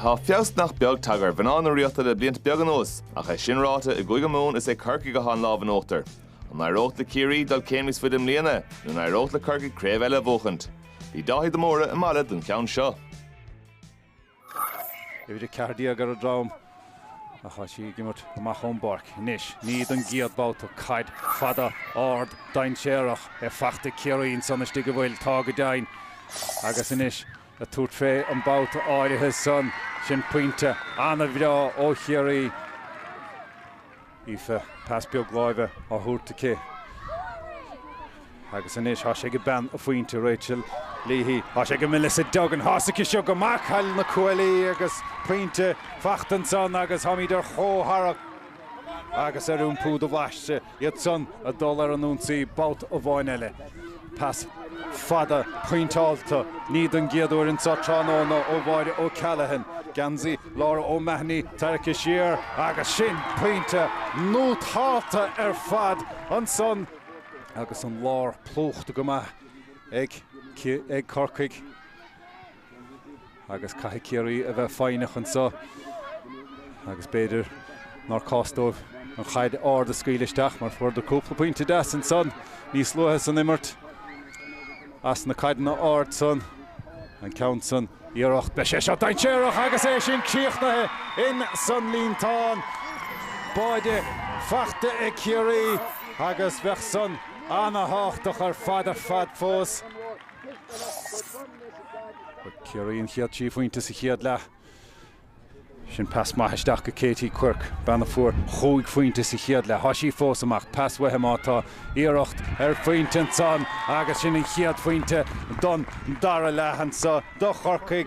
Tá feabhas nach beag tagtha ar mhná na Ríochta le blianta beaga anuas, ach é sin ráite, i gCúige Mumhan is é Corcaigh go bhfuil an lámh in uachtar. An n-éireoidh le Ciarraí dul céim níos faide i mbliana, nó an n-éireoidh le Corcaigh craobh eile a bhuachaint? Bhí Dáithí de Mórdha i Mala don cheann seo. Uimhir 14 ar a drom ach tá sí ag imirt amach ón bpáirc. Anois, ní don gcéad babhta, caid fada, ard, dainséarach é fachta ag Ciarraí ansan istigh an bhfuil, tá go deimhin, agus anois ag tabhairt fé an babhta áirithe san. Sin pointe ana-bhreá ó Chiarraí. Aoife, pas beag láimhe á thabhairt aici agus anois tá sé ag bean an phointe, Rachel Leahy. Tá sé ag Melissa Duggan, tá sé aici seo i mbéal na gcuaillí agus pointe fachta ansan agus táimid ar chomhtharrac agus ar iompú do bhaise, iad san ag dul ar an ionsaí babhta amháin eile. Pas fada pointeáilte, ní don gcéad uair anseo tráthnóna ó Mháire O'Callaghan, geansaí Laura O'Mahony tarraicthe siar, agus sin pointe nútálta ar fad ansan agus an lár plúchta go maith ag Corcaigh. agus caithfidh Ciarraí a bheith foighneach anseo agus b'fhéidir nár cás dóibh an chaid ard a scaoileadh isteach mar fuaireadar cúpla pointe deas ansan níos luaithe san imirt as na caideanna arda san, an ceann san, iarracht, beidh sé seo dainséarach agus é sin críochnaithe in san líontán báide, fachta ag Ciarraí agus bheadh san ana-thábhachtach ar fad ar fad fós. Ciarraí an chéad trí phointe sa chéad leath. Sin pas maith isteach go Katie Quirke, bean a fuair chúig phointe sa chéad leath. Tá sí fós amach. Pas uaithi má tá iarracht ar phointe ansan agus sin an chéad phointe don dara leath anseo do Chorcaigh.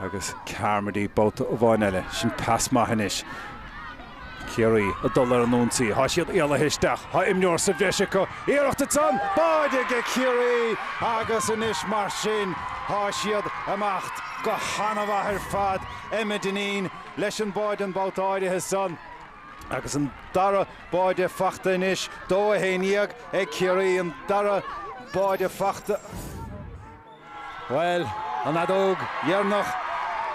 Agus Carmody babhta amháin eile, sin pas maith anois. Ciarraí ag dul ar an ionsaí, tá siad éalaithe isteach, tá imreoir sa bhreis acu, iarracht ansan, báide ag Ciarraí agus anois mar sin tá siad ag imeacht go han-mhaith ar fad. Emma Dineen leis an báide an babhta áirithe san. Agus an dara báide fachta anois, dó a haon dhéag ag Ciarraí, an dara báide fachta, bhuel, an fheadóg dheireanach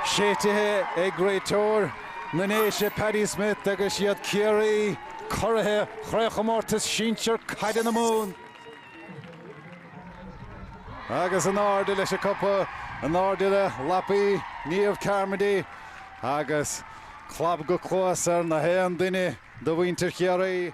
séitithe ag réiteoir na nDéise Paddy Smith agus iad, Ciarraí, curaidh Chraobhchomórtas Sinsear Caide na Mumhan. Agus in airde leis an cupa, in airde le lapaí Niamh Carmody agus clab go cluas ar nach aon duine de mhuintir Chiarraí.